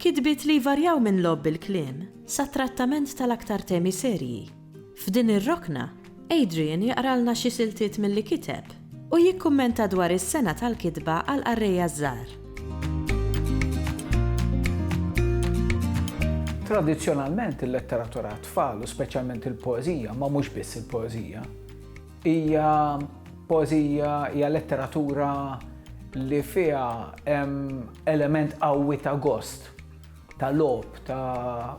Kitbiet li jvarjaw minn logħob bil-kliem sa trattament tal-aktar temi serji. F'din ir-rokna, Adrian jaqralna xi siltiet milli kiteb u jikkummenta dwar is-sengħa tal-kitba għal qarrejja żgħar. Tradizzjonalment il-letteratura għat-tfal u speċjalment il-poeżija, ma mhux biss il-poeżija, Hija poeżija, hija letteratura li fiha hemm element qawwi ta' gost, ta' logħob, ta'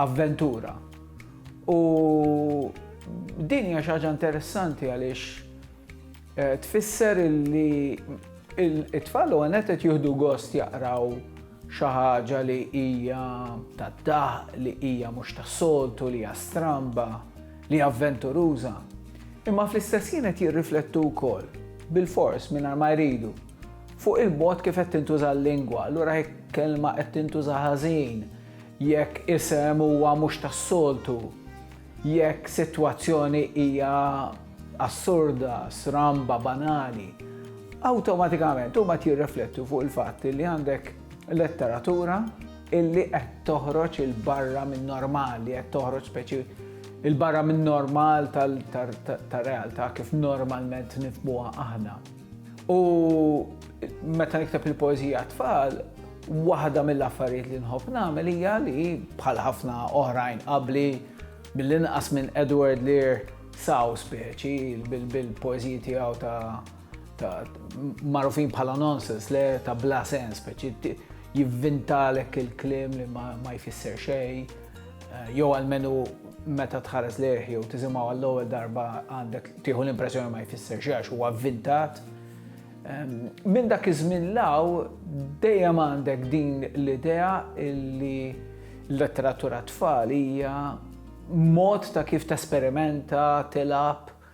avventura. U din hija xi ħaġa interessanti għaliex eh, tfisser li it-tfal u għanet qed jieħdu gost jaqraw xi ħaġa li hija tad-daħq, li hija mhux tas-soltu, li hija stramba. li avventuruża, imma fl-istess ħin qed jirriflettu wkoll, bilfors, mingħajr ma jridu, fuq il-mod kif qed tintuża l-lingwa, allura jekk kelma qed tintuża ħażin, jekk isem huwa mhux tas-soltu, jekk sitwazzjoni hija assurda, sramba, banali, awtomatikament huma qed jirriflettu fuq il-fatt li għandek letteratura, illi qed toħroġ 'il barra min-normal, li qed toħroġ speċi 'il barra min-normal tar-realtà kif normalment nifhmuha aħna. U meta nikteb il-poeżija għat-tfal, waħda mill-affarijiet li nħobb nagħmel hija li bħal ħafna oħrajn qabli mill-inqas minn Edward Lear saw speċi bil-poeżiji tiegħu ta' ta' marufin bħala nonsense, le ta' bla sens, speċi jivvintalek il-klim li ma jfisser xej, eh, jew għalmenu meta tħares leħ jew tisimgħu għall-ewwel darba għandek tieħu l-impressjoni ma jfisser xej għax huwa vvintat. Minn dak iż-żmien law dejjem għandek din l-idea li l-letteratura tfal hija mod ta' kif tesperimenta, tilab,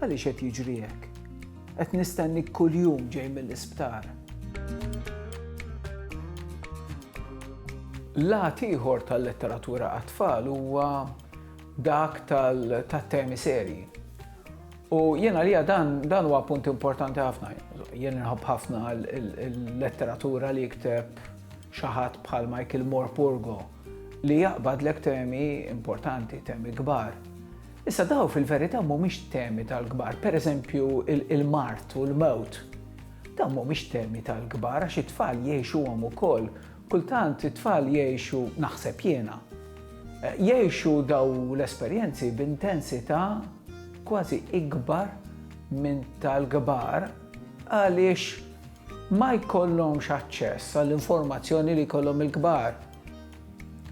Għaliex qed jiġri hekk? Qed nistennik kuljum ġej mill-isptar. Lat ieħor tal-letteratura għat-tfal huwa dak tal-temi serji. U jena li dan dan huwa punt importanti ħafna. Jena nħobb ħafna l-letteratura li jikteb xaħat bħal Michael Moore Purgo li jaqbad l temi importanti, temi kbar. Issa dawn fil-verità mhumiex temi tal-kbar, pereżempju il-mard u l-mewt. Dawn mhumiex temi tal-kbar għax it-tfal jgħixuhom ukoll. Kultant it-tfal jgħixu, naħseb jiena, jgħixu dawn l-esperjenzi b'intensità kważi ikbar minn tal-kbar għaliex ma jkollhomx aċċess għall-informazzjoni li jkollhom il-kbar.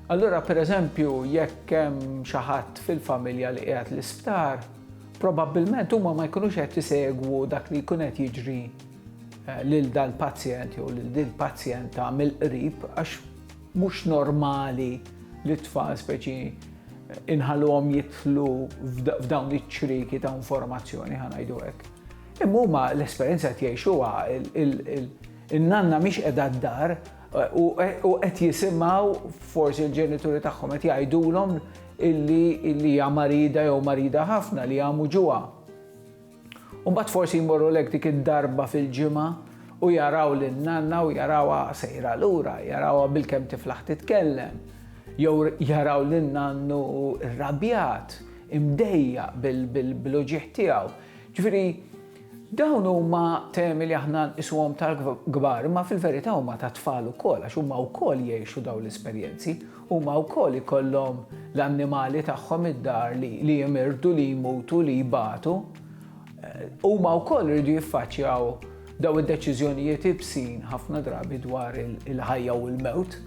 Allura, pereżempju, jekk hemm xi ħadd fil-familja li qiegħed l-isptar, probabbilment huma ma jkunux qed isegwu dak li jkun qed jiġri eh, lil dal-pazjent jew lil din pazjenta mill-qrib għax mhux normali li tfal speċi inħalhom jitlu f'dawn iċ-ċriki ta' informazzjoni ħanajdu hekk. Imma huma l-esperjenza qed jgħixuha il-nanna mhix qiegħda d-dar U qed jisimgħu forsi l-ġenituri tagħhom qed jgħidulhom illi hija marida jew marida ħafna li jagħmu ġuha. U mbagħad forsi jmorru lek dik id-darba fil-ġimgħa u jaraw lil nanna u jarawha sejra lura, jarawha bil-kemm tiflaħ titkellem, jew jaraw lil nannu rrabjat, imdejja bil-uġieħ tiegħu. Ġifieri, Dawn huma temi li aħna nqisuhom tal-kbar, imma fil-verità huma tat-tfal ukoll għax huma wkoll jgħixu dawn l-esperjenzi. Huma wkoll ikollhom l-annimali tagħhom id-dar li jimirdu, li jmutu, li jbatu. Huma wkoll iridu jiffaċċjaw dawn id-deċiżjonijiet iebsin ħafna drabi dwar il-ħajja u l-mewt.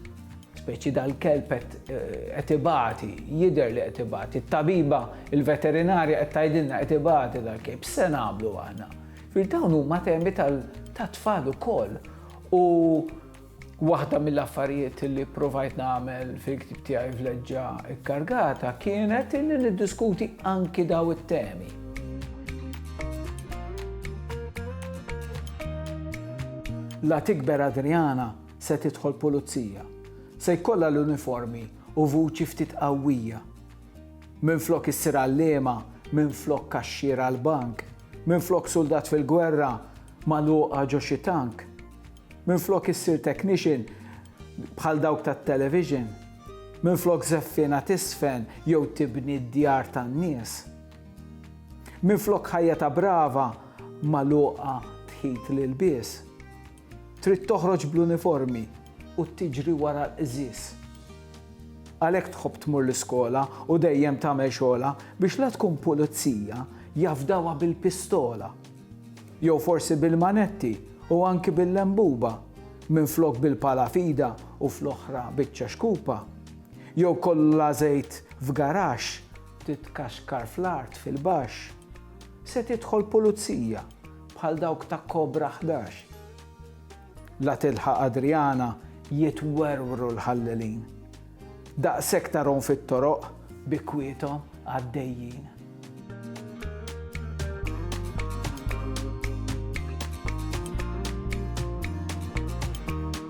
Speċi dal-kelb qed ibati, jidher li qed ibati. It-tabiba, il-veterinarja qed tgħidilna qed ibati dal-kelb. X'se nagħmlu aħna? Fil dawn huma temi tat-tfal ukoll. U waħda mill-affarijiet li provajt nagħmel fil-ktib tiegħi vleġġa kkargata kienet li niddiskuti anki daw it-temi. La tikber Adriana, se tidħol pulizija. Se jkollha l-uniformi u vuċi ftit qawwija. Minflok issir għalliema, minflok kaxxier għall-bank, minflok suldat fil-gwerra magħluqa ġo xi tank, minflok issir technician bħal dawk tat-television, minflok żeffiena tisfen jew tibni d-djar tan-nies. Minflok ħajja ta' brava magħluqa tħit l-ilbies. Trid toħroġ bl-uniformi u tiġri wara l-qżież. Għalhekk tħobb tmur l-iskola u dejjem tagħmel xogħolha biex la tkun pulizija jafdawha bil-pistola jew forsi bil-manetti u anki bil-lembuba minflok bil-pala f'idha u fl-oħra biċċa xkupa jew kollha żejt f'garaxx titkaxkar fl-art fil-baxx. Se tidħol pulizija. bħal dawk ta' Kobra Ħdax. La tilħaq Adriana jitwerwru l-ħallelin. Daqshekk tarhom fit-toroq bi kwiethom għaddejjin.